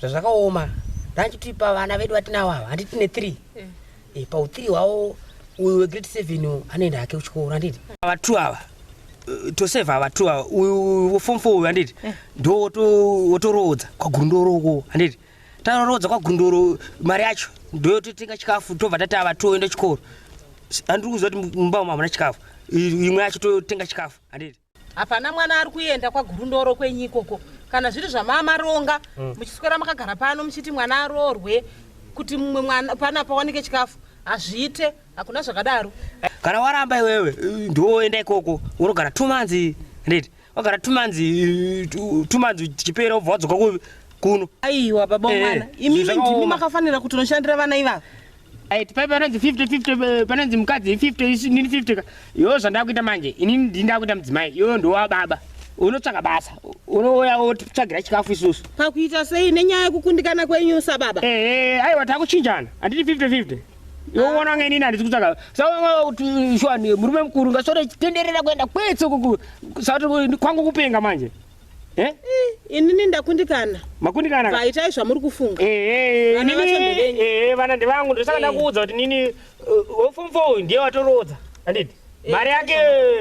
zvazvakaoma ndanditi pavana vedu vatinawo ava handiti tine three e, pauthree hwawo uyu wegrade seven anoenda hake kuchikoro handiti ava two ava eh, toseva ava two ava uyu wefom four uyu handiti eh. ndo wotoroodza kwagurundoro uko handiti taroroodza kwagurundoro mari yacho ndoyototenga chikafu tobva tati ava two oenda chikoro andiri kuziva kuti mumba umu hamuna chikafu imwe yacho totenga chikafu handiti hapana mwana ari kuenda kwagurundoro kwenyu ikoko kana zviri zvamamaronga mm. muchiswera makagara pano muchiti mwana aroorwe kuti mumwe mwana pana pawanike chikafu hazviite hakuna zvakadaro kana waramba iwewe ndoenda ikoko unogara two months redi wagara two months two months chipere wobva wadzoka kuno aiwa baba eh, mwana imimi ndimi makafanira kuti unoshandira vana ivava Right, pai panonzi 50 50 eh, panonzi mukadzi 50 isu nini 50 ka. Yo zvandakuita manje ini ndindakuita mudzimai. Yo ndowa baba. Unotsvaka basa. Unouya wotsvagira chikafu isusu. Pakuita sei nenyaya yekukundikana kwenyu sababa? Eh, eh, aiwa takuchinjana. Anditi 50 50. Yoona nge nini andisi kutsvaka. So kuti shwani murume mukuru ngasore tenderera kuenda kwetso kuku. Sauti kwangu kupenga manje. Eh? inini ndakundikana makundikana ka- vaitai zvamuri kufunga Eh, eh, Vana vacho inini- ndevenyu. eh, vana ndevangu ndosaka Eh. ndakuudza kuti nini uh, wefom fo uyu ndiye watoroodza anditi Eh, mari yake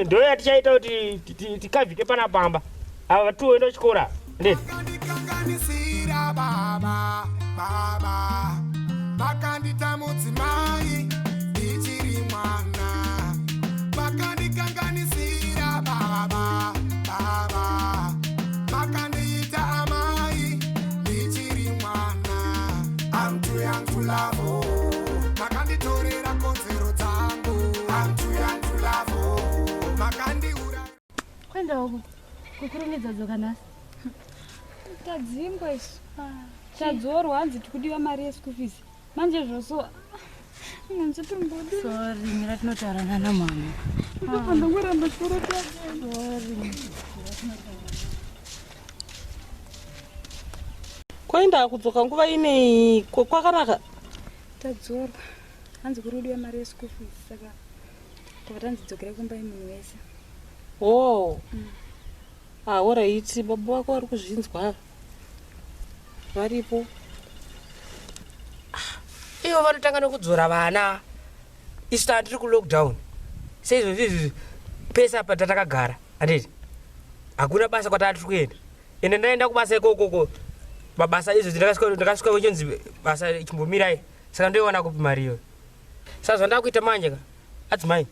ndo yatichaita kuti ti- ti- tikavhike pana pamba ava vatiuenda kuchikora anditi vakandikanganisira baba baba vakandita mudzimai ndichiri mwana vakandikanganisira baba ava makandiita amai ndichiri mwana I'm too young to love oh. makanditorera kodzero dzangu I'm too young to love oh. makandiura kwenda uko kukurumidza dzoka nhasi tadzingwa isu tadzorwa hanzi tikudiwa mari yeschool fees manje zvoso manje timbodi sorry mira tinotaura nana mama ipapo ndongoramba chikorokaa sorry kwaenda akudzoka nguva inei kwakanaka tadzorwa hanzi kuri udiwa mari yeschool fees saka tava tanzi dzokere kumba imunhu wese o oh. mm. ahoraiti ah, baba vako vari kuzvinzwa varipo ah, ivo vanotanga nekudzora vana isu taa tiri kulockdown seizvozvizvi pese apa tatakagara anditi hakuna basa kwataa tiri kuenda ende ndaenda kubasa ikokoko mabasa izvo ndakasvika kuchonzi basa chimbomirai saka ndoiwana kupi mari iyoyo saka zvandakuita manje ka adzimai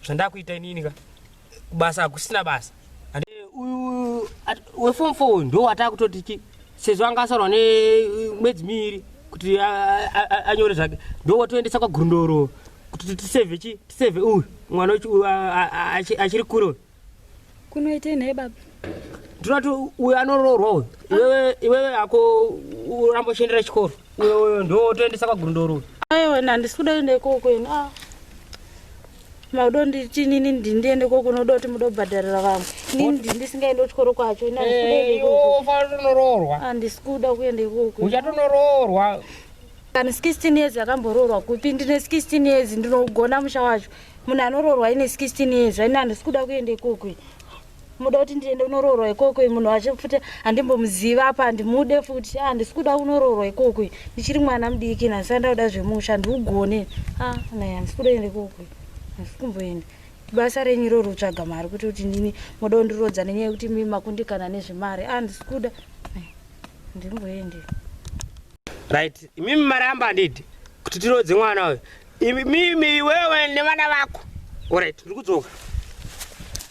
zvandakuita inini ka kubasa hakusina basa uyu wefom four ndo wataa kutoti chi sezvo anga asarwa nemwedzi miiri kuti anyore zvake ndo watoendesa kwagurundoro kuti tiseve chi tiseve uyu mwana uyu achiri kure uyu kunoitei nhai baba ndinoti uyu anoroorwa uyu iwewe iwewe hako uramba uchiendera chikoro uyo uyo ndo wotoendesa kwagurundoro aiwa handisi kuda enda ikoko ini ah. makuda nditi nini ndindiende ko kunoda kuti muda kubhadharira vamwe nini ndisingaende kuchikoro kwacho inaifanotoroorwa handisi kuda kuenda ikoko uchatonoroorwa kani 16 years yakamboroorwa kupi ndine 16 years ndinogona musha wacho munhu anoroorwa ine 16 years aine handisi kuda kuenda ikoko muda kuti ndiende kunoroorwa ikoko munhu wacho futi handimbomuziva apa handimude futi a ah, handisi kuda kunoroorwa ikoko ndichiri mwana mudiki nhasi andauda zvemusha handiugone a ah, nai handisi kuda ende ikoko handisi kumboenda ibasa renyu iroro kutsvaga mari kuti kuti ndini moda kundirodza nenyaya yekuti mi makundikana nezvemari a ah, handisi kuda handimboende right imimi mari yamba handidi kuti tirodze mwana uyo imimi iwewe nevana vako orit ndiri kudzoka